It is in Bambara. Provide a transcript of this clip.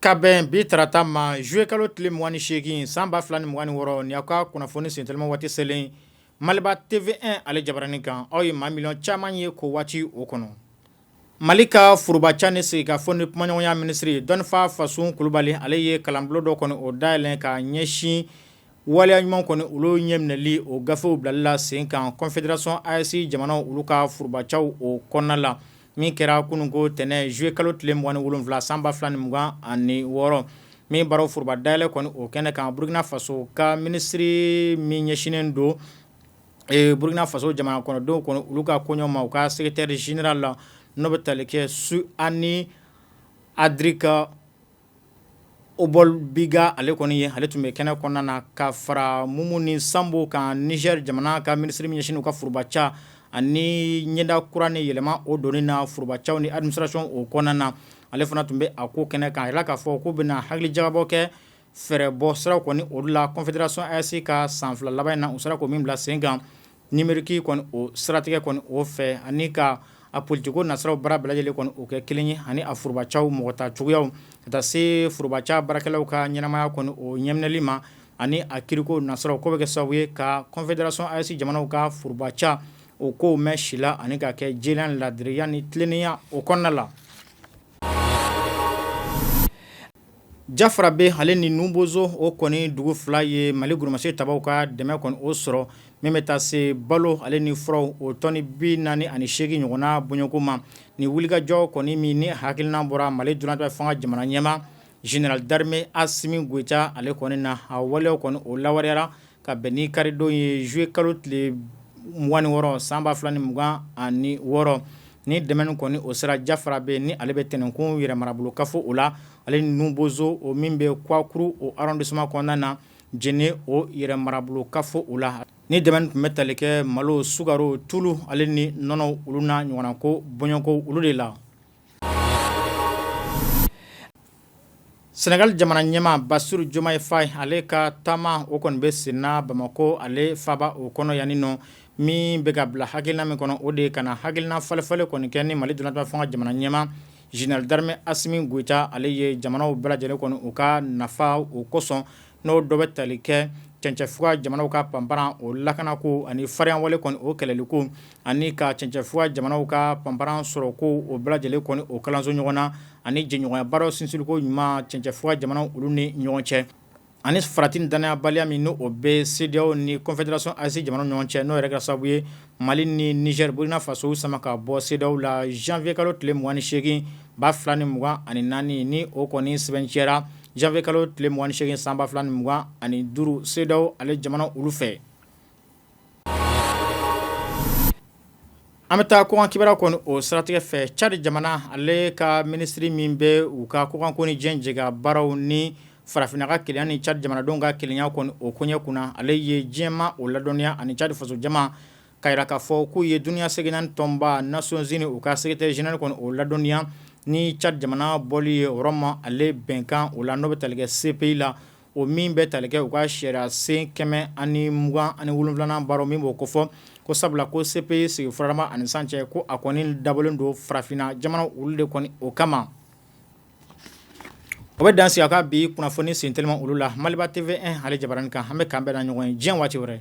Ka bɛn bi tarata ma zuye kalo tile mugan ni seegin san ba fila ni mugan ni wɔɔrɔ ni aw ka kunnafoni senteliman waati selen Maliba TV1 ale jabaranin kan aw ye maa miliyɔn caman ye ko waati o kɔnɔ Mali ka forobaca ni sigikafɔ ni kumaɲɔgɔnya minisiri dɔnnifa Fasun kulubali ale ye kalanbulon dɔ kɔni o dayɛlɛ ka ɲɛsin waleya ɲuman kɔni olu ɲɛminɛli o gafew bilali la sen kan confederation AES jamanaw olu ka forobacaw o kɔnɔna la min kɛra kununko tɛnɛn zuye kalo tile mugan ni wolonwula san ba fila ni mugan ani wɔɔrɔ min baaraw foroba dayɛlɛ kɔni o kɛnɛ kan burukina faso ka minisiri min ɲɛsinnen don ee Burukina Faso jamana kɔnɔ denw kɔni olu ka koɲɛ ma u ka secretaire general la n'o bɛ tali kɛ Suani Adrika Obolbiga ale kɔni ye ale tun bɛ kɛnɛ kɔnɔna na ka fara Mumuni Sambo kan Niger jamana ka minisiri min ɲɛsinnen don u ka forobaca ani ɲɛda kura ni yɛlɛma o donni na forobacaw ni administration o kɔnɔna na ale fana tun bɛ a ko kɛnɛ kan a jirala k'a fɔ k'u bɛna hakili jagabɔ kɛ fɛɛrɛ bɔ sira kɔni olu la confederation AES ka san 2 laban in na u sera ko min bila sen kan numerique kɔni o siratigɛ kɔni o fɛ ani ka a politikiko nasiraw baara bɛɛ lajɛlen kɔni o kɛ kelen ye ani a forobacaw mɔgɔta cogoyaw ka taa se forobaca baarakɛlaw ka ɲɛnamaya kɔni o ɲɛminɛli ma ani a kiriko nasiraw k'o bɛɛ kɛ sababu ye ka confederation AES jamanaw ka forobaca o kow mɛn si la ani ka kɛ jɛlenya ni laadiriya ni tilennenya o kɔnɔna la Jafarabɛ ale ni Nubozo o kɔni dugu fila ye mali goromasɛ tabaw ka dɛmɛ kɔni o sɔrɔ min bɛ taa se balo ale ni furaw o tɔni bi naani ani seegin ɲɔgɔnna bɔɲɔgɔnko ma ni wulikajɔ kɔni min ni hakilina bɔra mali dunatɛmɛ fanga jamana ɲɛmaa general d'armee Asimi Goyita ale kɔni na a waleyaw kɔni o lawaleyara ka bɛn ni karidon ye zuye kalo tile mugan ni wɔɔrɔ san ba fila ni mugan ani wɔɔrɔ ni dɛmɛ kɔni o sera Jafarabɛ ni ale bɛ Tɛnɛnkun yɛrɛ marabolo kafo o la ale ni Nubozo o min bɛ kuakuru o arrondissement kɔnɔna na Jɛnɛ o yɛrɛ marabolo kafo o la ni dɛmɛ tun bɛ tali kɛ malo sukaro tulu ale ni nɔnɔ olu n'a ɲɔgɔnnako bɔɲɔgɔnko olu de la Sɛnɛgali jamana ɲɛmaa Basiru Jomayi Fayi ale ka taama o kɔni bɛ senna Bamakɔ ale faaba o kɔnɔ yan ni nɔ min bɛ ka bila hakilina min kɔnɔ o de ye ka na hakilina falenfalen kɔni kɛ ni mali dunatɛmɛ fanga jamana ɲɛmaa general d'armee Asimi Goyita ale ye jamanaw bɛɛ lajɛlen kɔni u ka nafa o kosɔn n'o dɔ bɛ tali kɛ cɛncɛfuga jamanaw ka panparan o lakana ko ani farinya wale kɔni o kɛlɛli ko ani ka cɛncɛfuga jamanaw ka panparan sɔrɔ ko o bɛɛ lajɛlen kɔni o kalanso ɲɔgɔn na ani jɛɲɔgɔnya baaraw sinsinliko ɲuman cɛncɛfuga jamanaw olu ni ɲɔgɔn cɛ ani farati ni dannayabaliya min n' o bɛ CEDEAO ni Confédération AES jamana ɲɔgɔn cɛ n'o yɛrɛ kɛra sababu ye Mali ni Niger Burkina Faso sama ka bɔ CEDEAO la janvier kalo tile mugan ni segin ba fila ni mugan ani naani ni o kɔni sɛbɛntiyara janvier kalo tile mugan ni segin san ba fila ni mugan ani duuru CEDEAO ale jamana olu fɛ an bɛ taa kɔkan kibaru kɔni o siratigɛ fɛ cadi jamana ale ka minisiri min bɛ u ka kɔkanko ni diɲɛ jɛkabaaraw ni farafinna ka kelenya ni cadi jamanadenw ka kelenya kɔni o koɲɛ kunna ale ye diɲɛma o ladɔnniya ani cadi faso jama ka jira k'a fɔ k'u ye duniya seleke naani tɔnba Nations Unies u ka secrétaire général kɔni o ladɔnniya ni cadi jamana bɔli ye Rome ale bɛnkan o la n'o bɛ tali kɛ CPI la o min bɛ tali kɛ u ka sariya sen kɛmɛ ani mugan ani wolonwula baara min b'o kofɔ ko sabula ko CPI sigi fɔlɔma ani sisan cɛ ko a kɔni dabɔlen don farafinna jamana olu de kɔni o kama O bɛ dan sigi an ka bi kunnafoni sen teliman olu la Maliba TV ale jabaranin kan an bɛ k'an bɛna ɲɔgɔn ye diɲɛ waati wɛrɛ